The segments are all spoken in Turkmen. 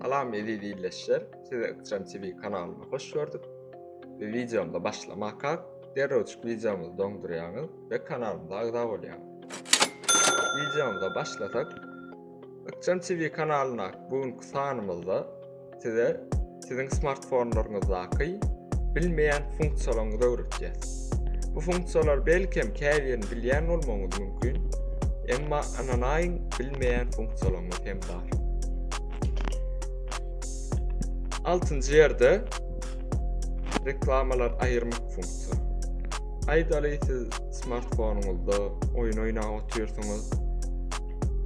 Salam eziz ildeşler, sizi Ykjam TV kanalyna hoş gördük. Bu videomda başlamaka derrewçik videomyzy doňdurýaňyz we kanalymyza agza bolýaň. Videomyza başlasak, Ykjam TV kanalynda bu günki sanymyzda size siziň smartfonlaryňyzdaky bilmeýän funksiýalaryňyzy öwretýäs. Bu funksiýalar belkem käbirini bilýän bolmagyňyz mümkin, emma ananaýyň bilmeýän funksiýalaryňyz hem bar. Altynjy ýerde reklamalar aýyrmak funksiýasy. Aýdaly siz smartfonuňyzda oýun oýnap otyrsyňyz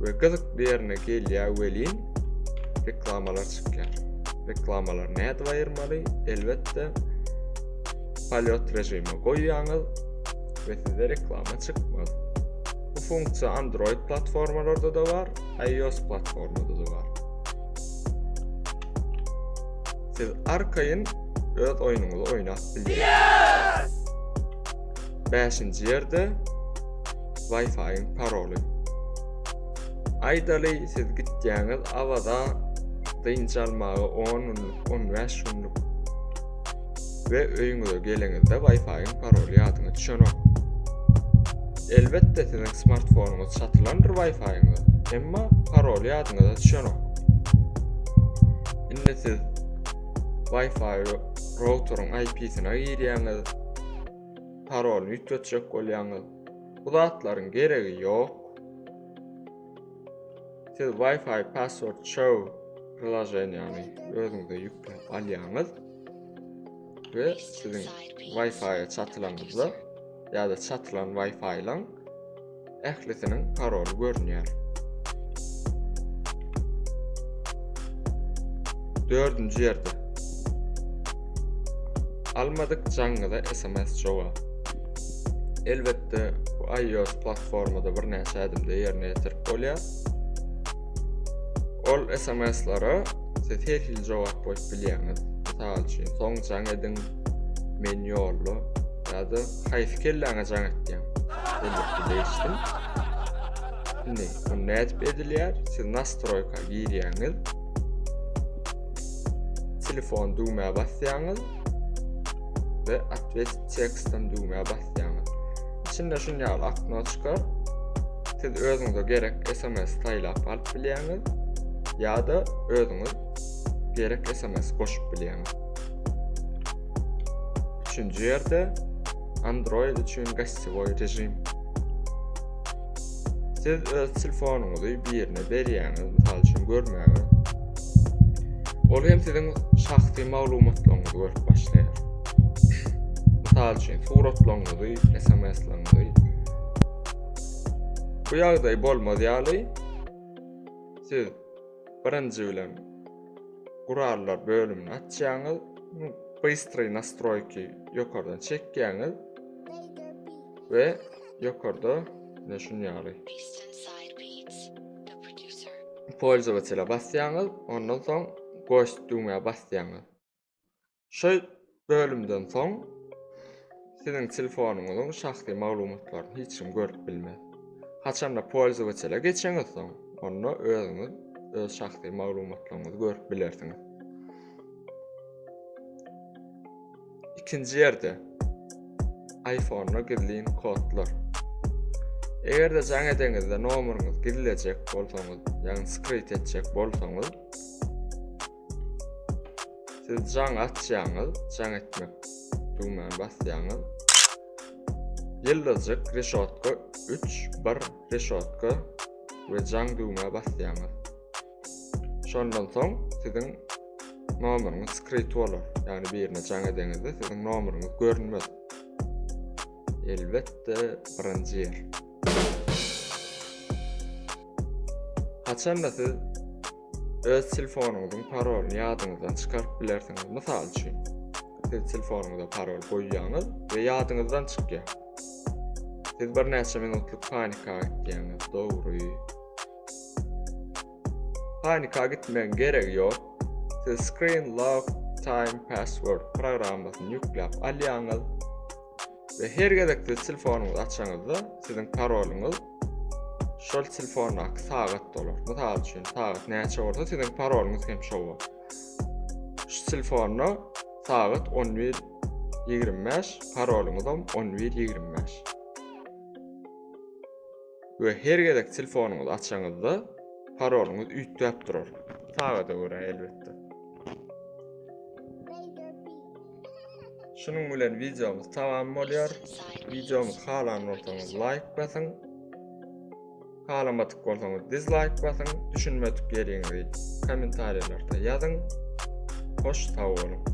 we gyzykly ýerine gelýär welin reklamalar çykýar. Reklamalar näde aýyrmaly? Elbetde polýot režimi goýýaňyz we sizde reklama çykmaz. Bu funksiýa Android platformalarda da bar, iOS platformada da bar. Siz arkaýyn öz oýnuňyzy oýnap bilýäňiz. 5-nji ýerde Wi-Fi-iň paroly. Aýdaly siz gitýäňiz Awaza dynç almaga 10 günlük, 15 günlük we öýüňize geleňizde Wi-Fi-iň paroly ýadyňa düşenok. Elbetde siziň smartfonuňyz çatylandyr Wi-Fi-iňiz, emma paroly ýadyňyza düşenok. Indi siz Wi-Fi routeryň IP-sine girýäňiz, parolyny üýtgetjek bolýaňyz. Bu zatlaryň geregi ýok. Siz Wi-Fi Password Show priloženiýany özüňize ýükläp alýaňyz we siziň Wi-Fi-ýa çatylanyňyzda ýa-da çatylan Wi-Fi-laň ählisiniň paroly görünýär. Dördünji ýerde. Almadyk jaňňyza SMS jogap. Elbetde bu iOS platformada bir näçe adımda yerine yetirip bolýar. Ol SMS-lere siz her hil jogap goýup bilýäňiz. Mysal üçin, soň jaň ediň, men ýolda ýa-da haýsy kelläňe jaň etýäň? Elbetde değişdim. Şimdi bu ne edip edilýär? Siz nastroýka girýäňiz. Telefon düwmä basýaňyz. we adres tekstin düwmä basýaňyz. Içinde şun ýaly akno çykar. Siz özüňize gerek SMS saýlap alyp bilýäňiz ýa-da özüňiz gerek SMS goşup bilýäňiz. Üçünji ýerde Android üçin gassiwoý režim. Siz öz telefonuňyzy birine berýäňiz, mysal üçin görmäge. Ol hem siziň şahsy maglumatlaryňyzy görüp başlaýar. Mysal üçin suratlaryňyzy, SMS-laryňyzy. Bu ýagdaý bolmaz ýaly siz birinji bilen gurallar bölümini açýaňyz, bystroý nastroýki ýokardan çekýäňiz we Ýokarda ne şun ýaly. Polzowaçela basýaňyz, ondan soň goş düwmä basýaňyz. Şu bölümden soň siziň telefonyňyzyň şahsy maglumatlaryny hiç kim görüp bilmez. Haçanda polzowaçela geçeňiz soň, onda özüňiz öz şahsy maglumatlaryňyzy görüp bilersiňiz. Ikinji ýerde iPhone-a gizlin kodlar. Eger-de jaň edeňizde nomeryňyzy gizlejek bolsaňyz, ýagny skryt etjek bolsaňyz, siz jaň açýaňyz, jaň etmek düwmäni basýaňyz. Ýyldyzjyk reşotka 3 1 reşotka we jaň düwmä basýaňyz. Şondan soň siziň nomeryňiz skrit bolar. Ýagny birine jaň edeňizde siziň nomeryňyz görünmez. Elbetde birinji ýer. Haçanda siz öz telefonuňyzyň parolyny ýadyňyzdan çykaryp bilersiňiz. Mysal üçin, siz telefonuňyza parol goýýaňyz we ýadyňyzdan çykýar. Siz bir näçe minutlyk panika etýäňiz, dogry. Panika gitmegiň geregi ýok. Siz Screen Lock Time Password programmasyny ýükläp alýaňyz we her gezekde telefonyňyzy açaňyzda siziň parolyňyz şol telefondaky sagat dolar. Mysal üçin, sagat näçe bolsa siziň parolyňyz hem şol bolar. Şu telefonda sagat 11:25, parolyňyz hem 11:25. we her gezek telefonyňyzy açaňyzda parolyňyz üýtgäp durar. Sagada görä elbetde. Şunuň bilen videomuz tamam bolýar. Videomy halan bolsaňyz like basyň. Halamadyk bolsaňyz dislike basyň. Düşünmedik ýeriňizi kommentariýalarda ýazyň. Hoş sag boluň.